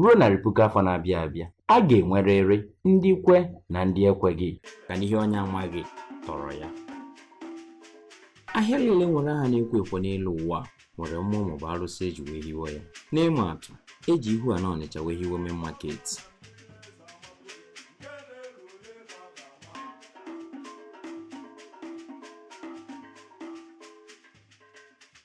ruo narị puku afọ na-abịa abịa a ga-enwerịrị ndị kwe na ndị ekweghị ka n'ihe onye amaghị tọrọ ya ahịa niile nwere aha na-ekwo ekwo n'elu ụwa nwere mmụọ maọbụ arụsị eji wee hiwe ya n'ịma atụ eji ihu a na ọnịcha wee hiwe main market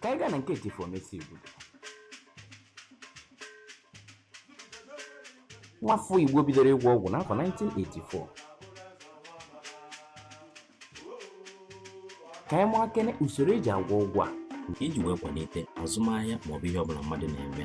ka anyị gaa na nke chifu omesi igbodo nwafọ igbo bidoro ịgwọ ọgwụ n'afọ 1984 ka anyị mara kene usoro eji agwọ ọgwụ a iji wee kwalite azụmahịa maọbụ ihe ọbụla mmadụ na-eme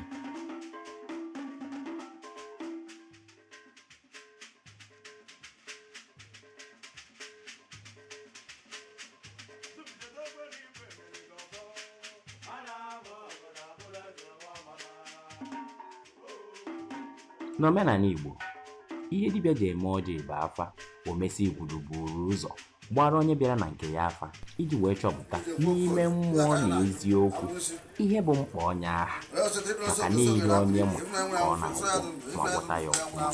n'omenala Igbo ihe dibịa ji eme ọjị bụ afa omesi igbodo buru ụzọ gbara onye bịara na nke ya afa iji wee chọpụta n'ime mmụọ na eziokwu ihe bụ mkpa onye aha maka n'ihe onye ma ka ọ na-agwọ ma gwọta ya ọfụma ọ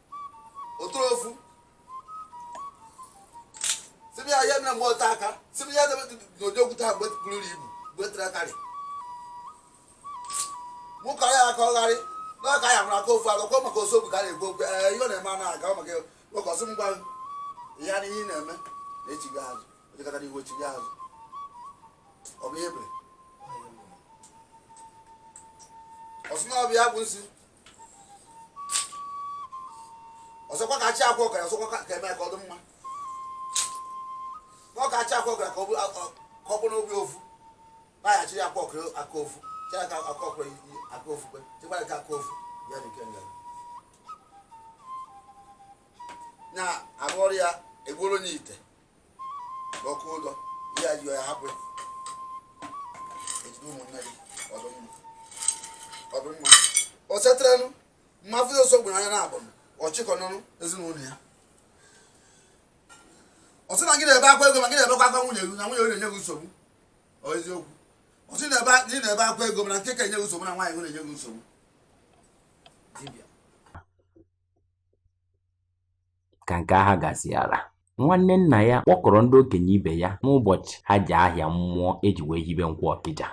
ofu sịbụ ya ya mere mgbe ọta aka sịbụ ya debe n'ụdị okwute ha buru ibu gbetere akarị mụ kọrọ ya aka ọgharị n'ọka ya mụrụ aka ofu agakọ maka osobu ka a na-ekwu okwu ee ihe ọ na-eme a na-aga maka ụkọsị mgba ya na ihe ị na-eme na-echigha azụ o jekata n'ihu o chigha azụ ọ bụ ihe ebere ọsụ na ọbịa bụ nsi ọzọkwa ka achị akwa ọkara ọzọkwa ka eme ka ọ dị mma ọ ka achị akwa ọkara ka ọ bụrụ obi ofu baghachi ya akwa ọkara aka ofu chee aka aka ọkara aka ofu kwe chekwara ka aka ofu ya dị nke nga na-arụ ọrụ ya egbuoro n'ite ọkụ ụdọ ihe a ji ya hapụ ya ejide ụmụnne gị ọ dụ mma o setịranụ mmafụ ọsọ gburu anya na-abụ ọchịkọ n'ọnụ ezinụlọ ya ọ sị na gị na-ebe akwa ego ma gị na-ebekwa akwa nwunye gị na nwunye gị na-enye gị nsogbu ọ eziokwu ọ sị na ị na-ebe akwa ego mana nke ka enye gị nsogbu na nwunye gị na-enye gị nsogbu ka nke aha gasịara nwanne nna ya kpọkọrọ ndị okenye ibe ya n'ụbọchị ha ji ahịa mmụọ eji wee hibe nkwọ ọkịja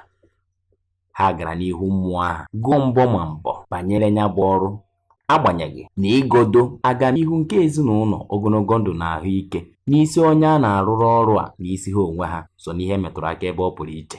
ha gara n'ihu mmụọ ahụ gụọ mbọ ma mbọ banyere ya bụ ọrụ agbanyeghị na ịgọdo agamnihu nke ezinụlọ ogologo ndụ na ahụike n'isi onye a na-arụrụ ọrụ a n'isi ha onwe ha so n'ihe metụrụ aka ebe ọ pụrụ iche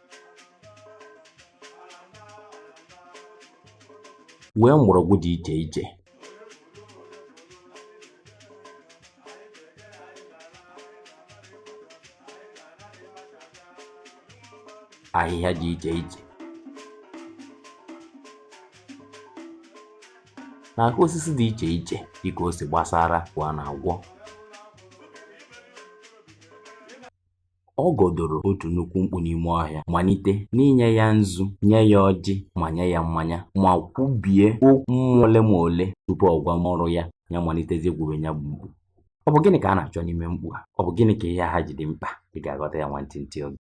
wee mgbọrọgwụ dị iche iche ahịhịa dị iche iche na aka osisi dị iche iche dịka o si gbasara ka a na-agwọ ọ gọdoro otu nnukwu mkpu n'ime ọhịa malite n'inye ya nzu nye ya ọjị ma nye ya mmanya ma kwubie okwu ole ma ole tupu ọ gwa nwa ọrụ ya ya malitezie gwuwe ya bụ mkpu ọ bụ gịnị ka a na-achọ n'ime mkpu a ọ bụ gịnị ka ihe a ji dị mkpa ị ga-aghọta ya nwantịntị oge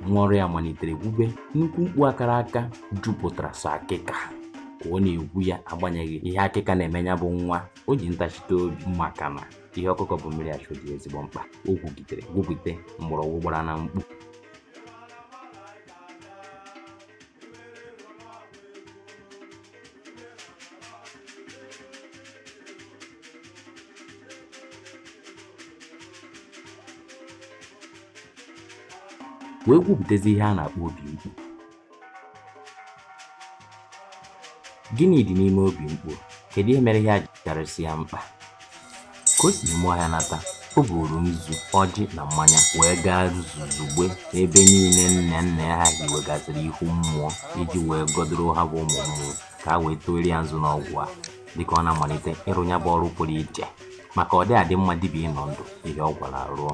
nwa ọrụ ya malitere gwube nnukwu mkpu a kara aka jupụtara sọ akịka ka ọ na-egwu ya agbanyeghị ihe akịka na-eme ya bụ nwa o ji ntachite obi maka na ihe ọkụkọ bu mmiri achọ dị ezigbo mkpa o gwugidere gwugide mgbọrọgwụ gbara na mkpu wee gwupụtazi ihe a na-akpọ obi mkpu gịnị dị n'ime obi mkpu kedu ihe mere ihe a ji karịsịa mkpa. Ka o si n'ime ọhịa nata, o buuru nzu, ọjị na mmanya wee gaa zuzugbe n'ebe niile nne nne ha hiwegasịrị ihu mmụọ iji wee gọdoro ha bụ ụmụ mmụọ ka ha wee tụọrọ ya nzu n'ọgwụ a dịka ọ na-amalite ịrụ ya bụ ọrụ pụrụ iche maka ọ dị adị mma dibịa ịnọ ndụ ihe ọ gwọrọ rụọ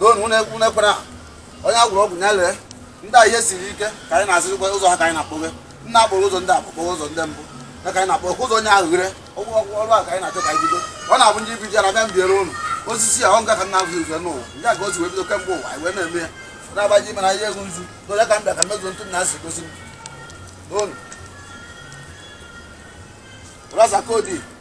doonu unu ekwu n'ekwere ahụ onye agwụrụ ọgwụ ya lee ndị a ihe siri ike ka anyị na-azịrịkwa ụzọ ha ka anyị na-akpọghe nna akpọrọ ụzọ ndị akpọkpọghe ụzọ ndị mbụ ya ka anyị na-akpọ ụzọ onye ahụ ghere ọgwụ ọgwụ ọrụ a ka anyị na-achọ ka anyị bido ọ na-abụ ndị ibido ya na bịa mbiere ụnụ osisi a ọ nga ka nna ahụ uzo n'ụwa ya ka o si wee bido kemgbe ụwa anyị wee na-eme ya na-agbaji mana ihe ego nzu na onye ka m bịa ka mezuo ntụ na asị gosi m n'ụnụ raza kodi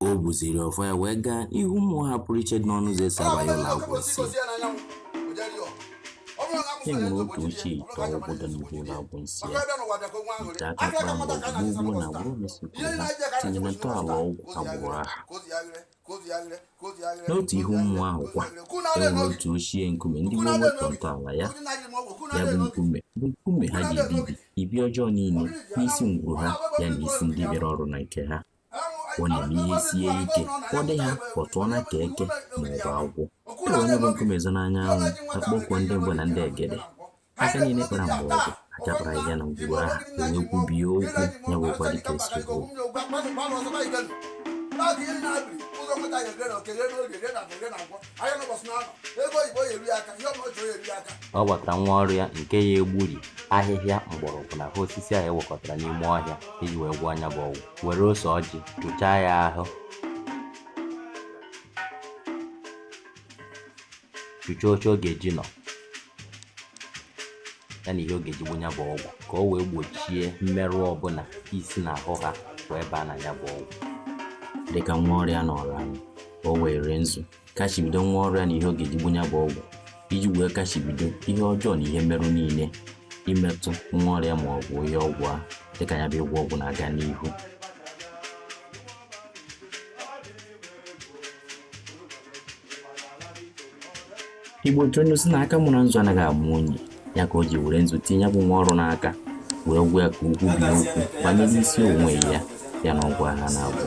o buziri ọfọ ya wee gaa n'ihu mmụọ ha pụrụ iche dị n'ọnụ ụzọ esi abanye ụlọ agwụnsi e nwere otu ochie ite ọgwụ dị n'ihu ụlọ agwụnsi ya ite aka kpara mgbọrọgwụ gboo na agbụrụ omesiigbo ha tinyere ntọala ọgwụ agbụrụ aha n'otu ihu mmụọ ahụ kwa e nwere otu ochie nkume ndị gboo were tọọ ntọala ya ya bụ nkume bụ nkume ha ji ebibi ibi ọjọọ niile n'isi ngwuru ha ya na isi ndị bịara ọrụ na nke ha ọ na-eme ihe sie ike ọ dị ha pọtụọ na ka eke ma ọ bụ agwọ e wee nya bụ nkume zi n'anya anwụ akpọkuo ndị mbụ na ndị egede aka niile kpara mgbọrọgwụ aka kpara ahịhịa na ngwuru aha wee kwubie okwu ya mekwa dịka e siri kwuo ọ gbatara nwa ọrụ ya nke ya egburi ahịhịa mgbọrọgwụ na ahụ osisi ahụ ewekọtara n'ime ọhịa iji wee gwọọ nya bụ ọgwụ were ose ọjị chụchaa ya ahụ chụchaa oche ọ ga-eji nọ ya na ihe ọ ga-eji gbu nya bụ ọgwụ ka o wee gbochie mmerụ ọbụla isi na ahụ ha wee baa na ya bụ ọgwụ dịka nwa ọrụ ya nọrọ ala ka o were nzu kachibido nwa ọrụ ya na ihe ọ ga-eji gbu nya bụ ọgwụ iji wee kachibido ihe ọjọọ na ihe mmerụ niile imetụ nwa ọrụ ya ma ọ bụ ihe ọgwụ a dịka ya bụ ịgwọ ọgwụ na-aga n'ihu igbo tụrụ inu sị na aka mụrụ nzu anaghị amụ onye ya ka o ji were nzu tinye ya bụ nwa ọrụ n'aka wee gwa ya ka o kwubie okwu banyere isi onwe ya ya na ọgwụ aha a na-agwọ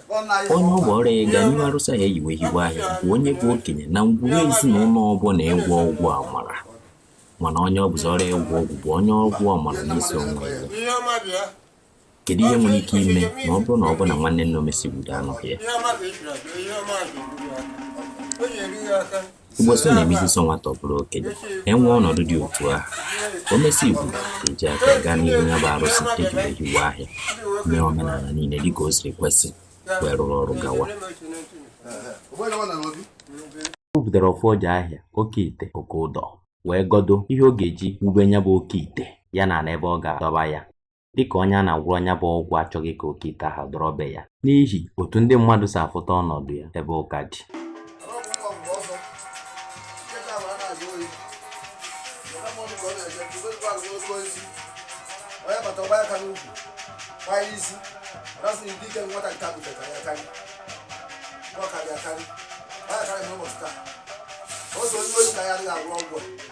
onye ọ bụ ọrụ ya ịga n'ihu arụsị ahụ eji wee hiwe ahịa bụ onye bụ okenye na ngwuru ezinụlọ ọbụla ịgwọ ọgwụ amara mana onye ọ bụzi ọrụ ya ịgwọ ọgwụ bụ onye ọgwụ amara n'isi onwe ya kedu ihe nwere ike ime ma ọ bụrụ na ọ bụ na nwanne nne omesiigbo anọghị ya Igbo sị na emezie sọ nwata ọ bụrụ okenye e nwee ọnọdụ dị otu ahụ omesiigbo eji aka gaa n'ihu ya bụ arụsị eji wee hiwe ahịa mee omenala niile dịka o siri kwesị wee rụrụ ọrụ gawa o butere ọfọ ọja ahịa oke ite oke ụdọ wee gọdo ihe ọ ga-eji wube ya bụ oke ite ya na ala ebe ọ ga-adọba ya dịka onye a na-agwọrọ nya bụ ọgwụ achọghị ka oke ite ahụ dọrọ be ya n'ihi otu ndị mmadụ si afụta ọnọdụ ya ebe ụka dị onye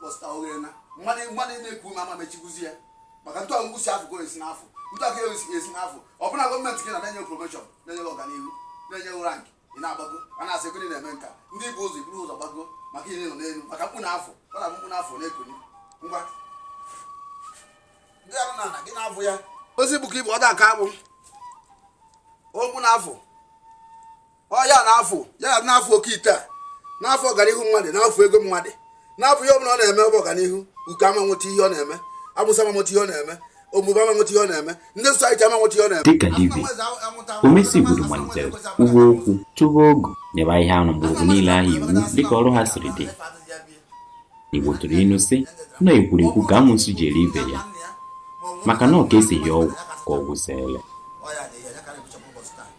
bọsta oghere na mmadụ na-eku ume ama mechikwuzi ya maka ntụ ọgwụgwụ si afụ esi n'afụ ntụ aka esi n'afụ ọ bụ na gọọmenti gị na-enye promoshọn na-enye ọganihu na-enye rank ị na-agbago a na-asị gịnị na-eme nka ndị bụ ụzọ iburu ụzọ gbago maka ihe nọ n'elu maka mkpu na-afụ ọ na mkpu na-afụ na-ekuni ngwa ndị arụ na ana gị na-abụ ya ozi bụ ka ibu ọ da aka akpụ opu na-afụ ọ ya na-afụ ya na-afụ oke ite a na-afụ ọganihu mmadụ na-afụ ego mmadụ na-afụ ihe ọbụla ọ na-eme ọ bụ ọganihu uke ama nweta ihe ọ na-eme amụsụ ama nweta ihe ọ na-eme omume ama nweta ihe ọ na-eme ndị sosaiti ama nweta ihe ọ na-eme dịka dibịa omesi igbudu malitere kwuwe okwu tụba ogu nyebe ahịhịa na mgbọrọgwụ niile ahụ iwu dịka ọrụ ha siri dị igbo tụrụ ilu sị na ekwurekwu ka amụsụ ji eri ibe ya maka na ọ ka esighi ọgwụ ka ọgwụ siele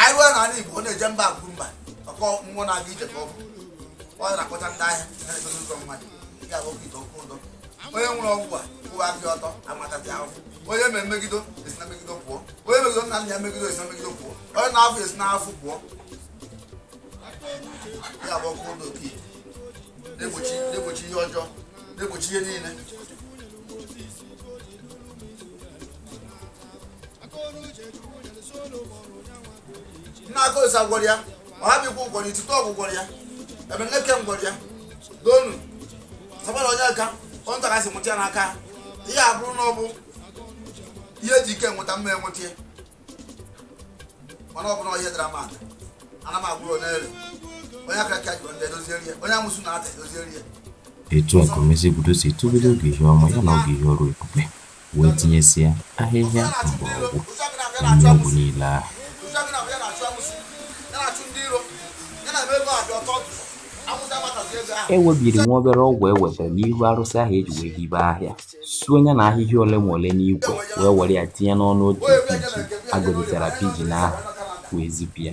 anyị ruo n'ala Igbo ọ na-eje mba akwuru mba ọkọ mmụọ na-aga ije ka ọ bụ ọ na-akpọta ndị ahịa na-egozi ụzọ mmadụ ya bụ oke ite ọkụ ụdọ onye nwere ọgwụ a kwụwa aka ọtọ ama atazi ahụhụ onye ma emegido esi na mmegido pụọ onye megido nna nna ya megido esi na mmegido pụọ onye na-afụ esi na afụ pụọ ya bụ ọkụ ụdọ oke ite na-egbochi ihe ọjọọ na-egbochi ihe niile nna akosa gwọrọ ya ọhabikwu gwọrọ itutu ọgwụ gwọrọ ya ebeneke gwọrọ ya donu sabara onye aka onye ntaka si nwụta ya n'aka ha. ihe a bụrụ na ọ bụ ihe ji ike nweta m ma enweta ya mana ọ bụrụ na ihe dara mmadụ ana m agwụrụ onye ere onye akaraka jọrọ njọ edozieri ya onye amụsụ na-ata edozieri ya etu a ka omesi igbudu si tụbere ogu ihe ọma ya na ogu ihe ọrụ ebube wee tinyesịa ahịhịa mgbọrọgwụ na nri ọgwụ niile ahụ. E webiri nwa obere ọgwụ e wetara n'ihu arụsị ahụ e ji wee hibe ahịa, suo ya na ahịhịa ole ma ole n'ikwe, wee were ya tinye n'ọnụ otu pigeon a gọzitara pigeon ahụ, wee zipụ ya.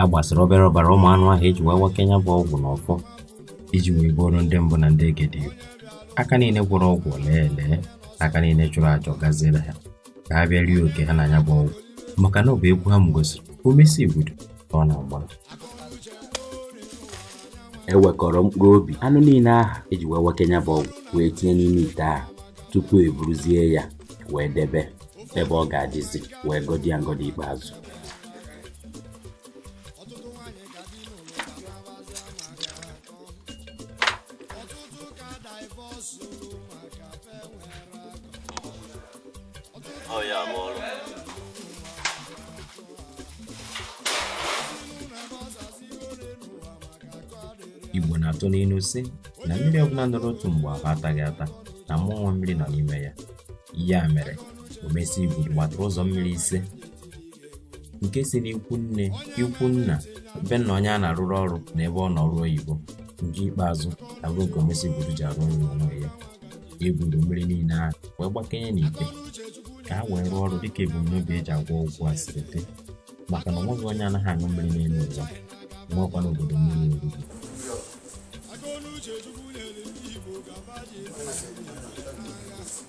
a gbasịrị obere ọbara ụmụ anụ ahụ eji wee wakee ya bụ ọgwụ n'ọfọ iji wee gbuoro ndị mbụ na ndị egede aka niile gwọrọ ọgwụ o lee ele aka niile chụrụ aja ọ gaziere ha ka ha bịa rie oke ha na ya bụ ọgwụ maka na ọ bụ egwu ha gosiri omesi igbudu ka ọ na-agba ewekọrọ mkpụrụ obi anụ niile ahụ eji wee wakee ya bụ ọgwụ wee tinye n'ime ite ahụ tupu eburuzie ya wee debe ebe ọ ga-adịzi wee gọzie ya ngọzi ikpeazụ ọtụtụ nwaanyị ka di n'ụlọ ka na-agbazi ama ga akọ ọtụtụ ka divọs olu maka fe nwere akọ Ọ ya bụ ọrụ. igbo na-atụ n'ilu sị na mmiri ọbụla nọrọ otu mgbe ahụ ataghị ata na mmụọ mmiri nọ n'ime ya ya mere omesi igbudu gbatara ụzọ mmiri ise nke si n'ikwu nne ikwu nna be nna onye a na-arụrụ ọrụ na ebe ọ nọ ọrụ oyibo nke ikpeazụ abụrụ nke omesi igbudu ji arụ ọrụ n'onwe ya eburu mmiri niile ahụ wee gbakenye n'ite ka ha wee rụọ ọrụ dịka ebumnobi eji agwọ ọgwụ a siri dị maka na onweghị onye anaghị aṅụ mmiri n'elu ụwa nwekwa n'obodo mmiri oriri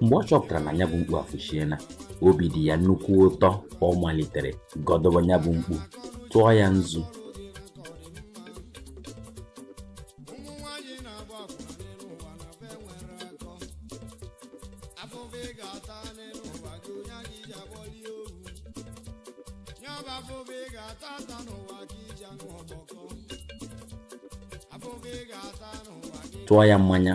mgbe ọ chọpụtara na ya bụ mkpu afụchiela obi dị ya nnukwu ụtọ ọ malitere gọdọba ya bụ mkpu tụọ ya nzu tụọ ya mmanya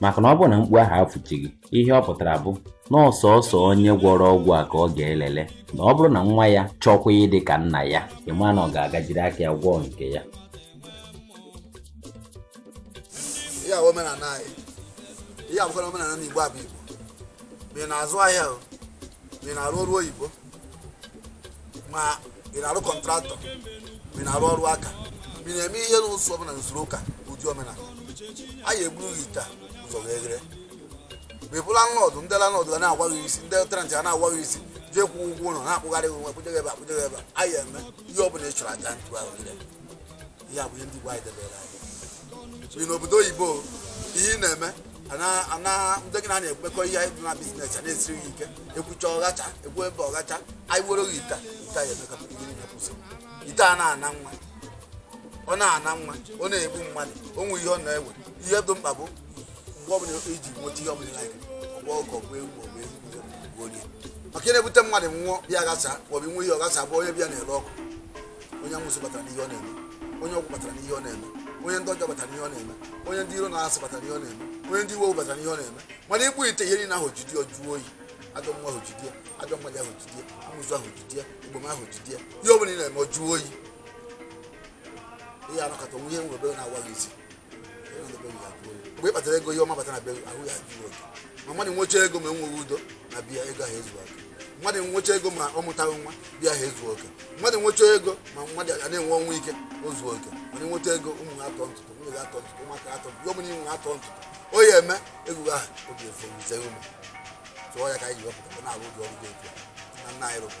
maka na ọ bụrụ na mkpu ahụ afụchighị ihe ọ pụtara bụ na ọ sọsọ onye gwọrọ ọgwụ a ka ọ ga-elele na ọ bụrụ na nwa ya chọkwa ịdị ka nna ya ị ma na ọ ga-agajiri aka ya gwọọ nke ya ihe a bụ omenala anyị ihe a bụkwara omenala n'igbo abụ igbo ma ị na-azụ ahịa ma ị na-arụ ọrụ oyibo ma ị na-arụ kọntraktọ ma ị na-arụ ọrụ aka ma ị na-eme ihe n'ụzọ ọbụla n'usoro ụka ụdị omenala a ya eburu gị ite a ụzọ wee ghere ma ị bụ lanlọdụ ndị lanlọdụ ga na-awa gị isi ndị tenantị ga na-awa gị isi jee kwụọ ụgwọ ụlọ na-akpụgharị gị nwa kpụje gị ebe a kpụje gị ebe a a ya eme ihe ọbụla ị chọrọ aja ntụ ahụ ghere ihe a bụ ihe ndị Igbo anyị debere anyị bi n'obodo oyibo ihe ị na-eme ana ndị gị na na-ekwekọ ihe anyị na biznes a na-esiri gị ike ekwucha ọghacha ekwu ebe ọghacha anyị were gị ite ite anyị emekọta ihe niile kwụsị ite a na-ana nwa ọ na-ana nwa ọ na-egbu mmadụ o nwe ihe ọ na-ewe ihe dị mkpa bụ mgbe ọbụla i ji nweta ihe ọbụla anyị ọgba ọkọ bụ ewu ọgba ewu maka ihe na-ebute mmadụ nwụọ bịa gasa maọbụ nwe ihe ọgasa bụ onye bịa na-ere ọkụ onye amụsụ batara n'ihe ọ na-eme onye ọgwụ batara n'ihe ọ na-eme onye ndị ọjọọ batara n'ihe ọ na-eme onye ndị iro na asị batara n'ihe ọ na-eme onye ndị iwe owu batara n'ihe ọ na-eme mana ikpu ite ihe niile ahụ jidi ọ jụọ oyi ajọ nwa ahụ jidi ya ajọ mmadụ ahụ jidi ya amụsụ ahụ jidi ya ogbom ahụ jidi ya ihe ọ bụla ị na-eme ọ jụọ oyi ihe anọkọta onwe ihe nwere ebe na-awa gị isi mgbe ị kpatara ego ihe ọma bata na be ahụ ya zuru oke ma mmadụ nwecha ego ma enweghị udo na be ya ego ahụ ezu oke mmadụ nwecha ego ma ọ mụtaghị nwa be ya ahụ ezu oke mmadụ nwecha ego ma mmadụ a na-enwe ọnwụ ike o zu oke mana nweta ego ụmụ ha atọ ntụtụ nwunye gị atọ ntụtụ ụmụaka atọ ntụtụ ihe ọbụla i nwe atọ ntụtụ ọ ya-eme ego ahụ obi efe wuzie ụmụ tụọ ya ka anyị ji wepụta na-arụ ụdị ọrụ dị otu a na nna anyị rụbụ